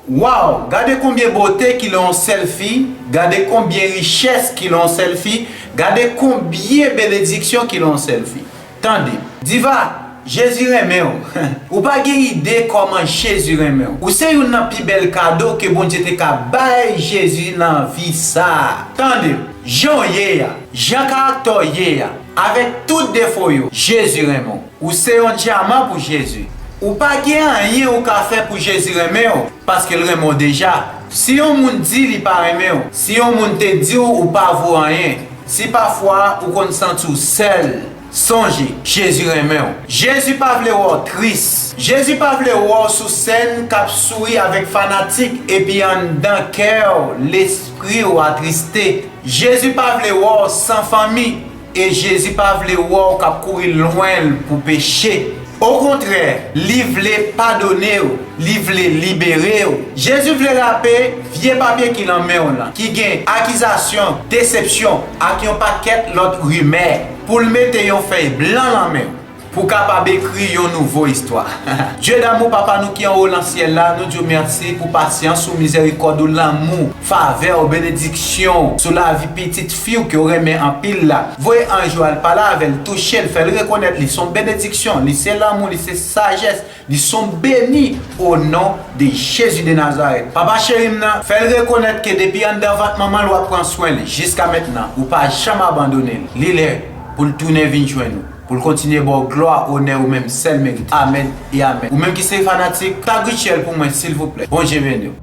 Waww gade konbyen bote ki lan yon sèl fi gade konbyen richès ki lan yon sèl fi gade konbyen benediksyon ki lan yon sèl fi tande. Diva, Jezi renmen w. Ou pa gen ide kòman Jezi renmen w. Ou se youn nan pi bèl kado ke Bondye te ka bay Jezi nan vi sa a. Tande, jan w ye a, jan karaktè w ye a, Avèk tout defo yo, Jezi renmen w. Ou se yon dyaman pou Jezi. Ou pa gen anyen ou ka fè pou Jezi renmen w, paske l renmen w deja. Si yon moun di li pa renmen w, si yon moun te di w ou pa vo anyen, si pafwa ou konn santi w sèl, sonje, Jezi renmen w. Jezi pa vle wè w tris. Jezi pa vle wè w sou sèn k ap souri avèk fanatik epi anndan kè w, lespri. Kriye ou atriste. Jezi pa vle wè w san fanmi e Jezi pa vle wè w k ap kouri lwen l pou peche. Okontrè, li vle padone w, li vle libere w. Jezi vle rape vye papye ki lan men w lan, ki gen akizasyon, desepsyon ak yon pakèt lòt rimè, pou l mete yon fèy blan lan men w. Pou w kapab ekri yon nouvo istwa. Dye damou Papa nou ki anwo lan syèl la, nou di w mèsi pou pasyans ou, mizèrikòd ou, lanmou w, favè w, benediksyon w sou lavi pitit fi w ke w renmen anpil la. Voye anj ou al pale avè l, touche l, fè l rekonèt li son benediksyon, li se lanmou, li se sajès, li son beni o non de Jezi de Nazarèt. Papa cheri m nan, fè l rekonèt ke depi anndan vant manman l w ap pran swen li jiska mentnan, ou pa janm abandone l. Li lè pou l tounen vin jwenn ou. Pou l kontinye ba w glwa, onè ou menm sèl merite. Amen e amen. Ou menm ki se fanatik, tag Rutshelle pou mwen silvouplè. Bondye beni w.